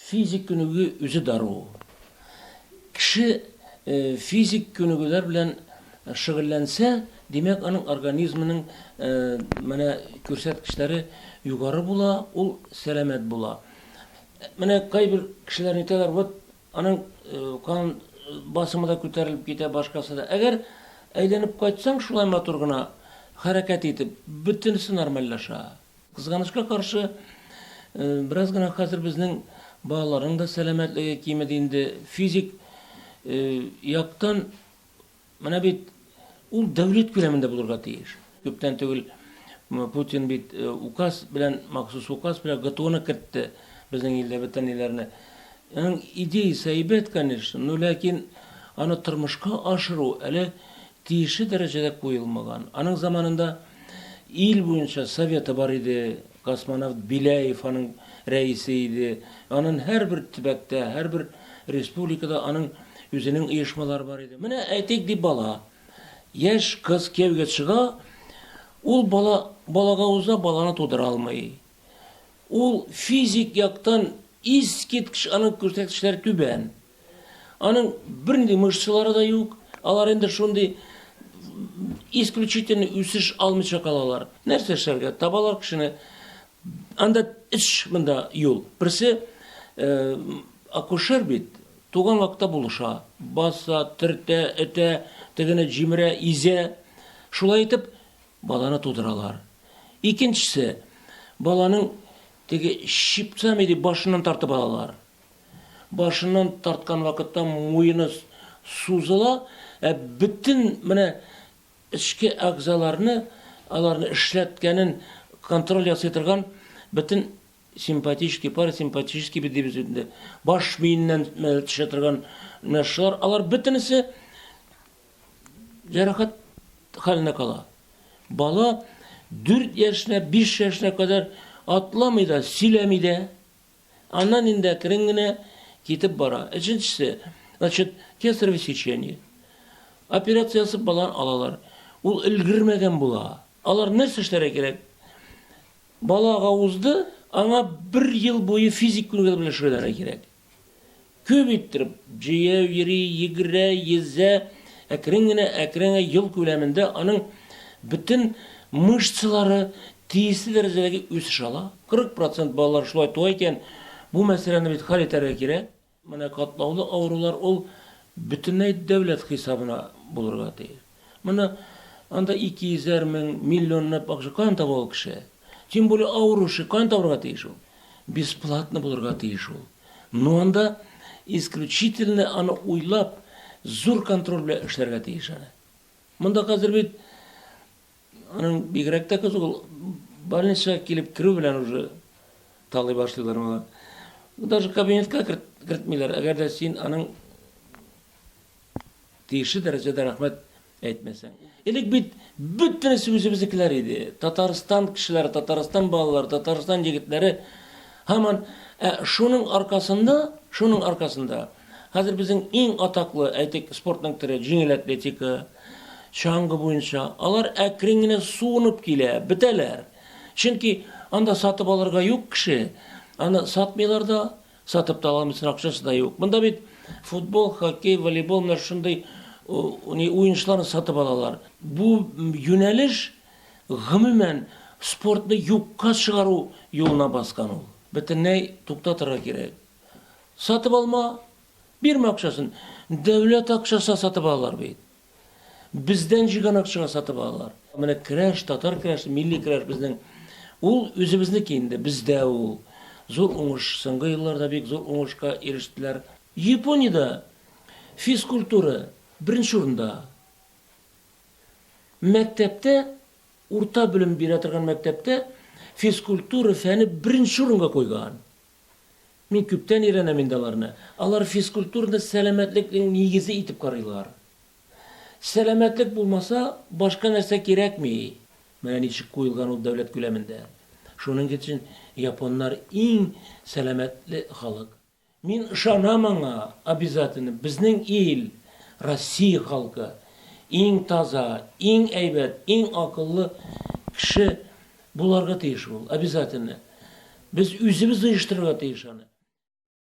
Физик күнегү үзе дару. Кеше физик күнегүләр белән шөгыльләнсә, димәк, аның организмының менә күрсәткечләре югары була, ул сәламәт була. Менә кайбер кешеләр әйтәләр, вот аның кан басымы да күтәрелеп китә, башкасы да. Әгәр әйләнеп кайтсаң шулай матур гына хәрәкәт итеп, бөтенесе нормальләшә. Кызганычка каршы, бераз гына хәзер безнең балаларның да сәламәтлеге кимеди инде. Физик яктан менә бит ул дәүләт күләмендә булырга тиеш. Күптән түгел Путин бит указ белән, махсус указ белән ГТОны кертте безнең илдә бөтен илләрне. Аның идеясе әйбәт, конечно, но ләкин аны тормышка ашыру әле тиешле дәрәҗәдә куелмаган. Аның заманында Ил буенча советы бар иде, космонавт Беляев аның рәисе иде. Анын һәрбер төбәктә, һәрбер республикада аның үзенең оешмалары бар иде. Менә әйтик ди бала, яшь кыз кияүгә чыга, ул бала балага уза, баланы тудыра алмый. Ул физик яктан искиткеч аның күрсәткечләре түбән. Аның бернинди мышцалары да юк. Алар инде шундый исключительный үсеш алмыйча калалар. Нәрсә эшләргә? Табалар кешене. Анда эш монда юл. Берсе э, акушер бит, туган вакытта булыша. Баса, төртә, этә, тегене җимерә, изә. Шулай итеп, баланы тудыралар. Икенчесе, баланың теге шипцами дип башыннан тартып алалар. Башыннан тарткан вакытта муены сузыла, ә бөтен менә эчке әгъзаларны, аларны эшләткәнен контроль ясый торган бөтен симпатический, парасимпатический бит дибез инде. Баш миеннән төшә торган менә шулар, алар бөтенесе җәрәхәт хәленә кала. Бала 4 яшенә, 5 яшенә кадәр атламый да, сөйләми дә. Аннан инде әкрен генә китеп бара. Өченчесе, значит, кесарево сечение. Операция ясап баланы алалар. Ул өлгермәгән була. Алар нәрсә эшләргә кирәк? Балага узды, аңа бер ел буе физик күнегүләр белән шөгыльләнергә кирәк. Күп иттереп җәяү йөри, йөгерә, йөзә. Әкрен генә, әкрен генә ел күләмендә аның бөтен мышцалары тиешле дәрәҗәдәге үсеш ала. 40 процент балалар шулай туа икән, бу мәсьәләне бит хәл итәргә кирәк. Менә катлаулы авырулар ул бөтенләй дәүләт хисабына булырга тиеш. Моны анда ике йөзәр мең, миллионлап акча каян таба ул кеше? Тем более авыручы каян табарга тиеш ул? Бесплатно булырга тиеш ул. Ну анда исключительно аны уйлап, зур контроль белән эшләргә тиеш аны. Монда хәзер бит аның бигрәк тә кызык ул больницага килеп керү белән уже талый башлыйлар моны. Даже кабинетка кертмиләр, әгәр дә син аның Тиешле дәрәҗәдә рәхмәт әйтмәсәң. Элек бит бөтенесе үзебезнекеләр иде. Татарстан кешеләре, Татарстан балалары, Татарстан егетләре һаман ә шуның аркасында, шуның аркасында хәзер безнең иң атаклы, әйтик, спортның төре җиңел атлетика, чаңгы буенча, алар әкрен генә суынып килә, бетәләр. Чөнки анда сатып алырга юк кеше, аны сатмыйлар да, Сатып та аламыйсың, акчасы да юк. Монда бит футбол, хоккей, волейбол менә шундый не уенчыларны сатып алалар. Бу юнәлеш гомумән спортны юкка чыгару юлына баскан ул. Бөтенләй туктатырга кирәк. Сатып алма, бирмә акчасын. Дәүләт акчасына сатып алалар бит. Бездән җыйган акчага сатып алалар. Менә керәш, татар керәше, милли керәш безнең. Ул үзебезнеке инде, бездә ул. Зур уңыш, соңгы елларда бик зур уңышка ирештеләр. Япониядә физкультура беренче урында. Мәктәптә, урта белем бирә торган мәктәптә физкультура фәне беренче урынга куйган. Мин күптән өйрәнәм инде аларны. Алар физкультураны сәламәтлекнең нигезе итеп карыйлар. Сәламәтлек булмаса, башка нәрсә кирәкми. Менә ничек куелган ул дәүләт күләмендә. Шуның өчен японнар иң сәламәтле халык. Мин ышанам аңа, обязательно, безнең ил, Россия халкы, иң таза, иң әйбәт, иң акыллы кеше. Буларга тиеш ул, обязательно. Без үзебез оештырырга тиеш аны.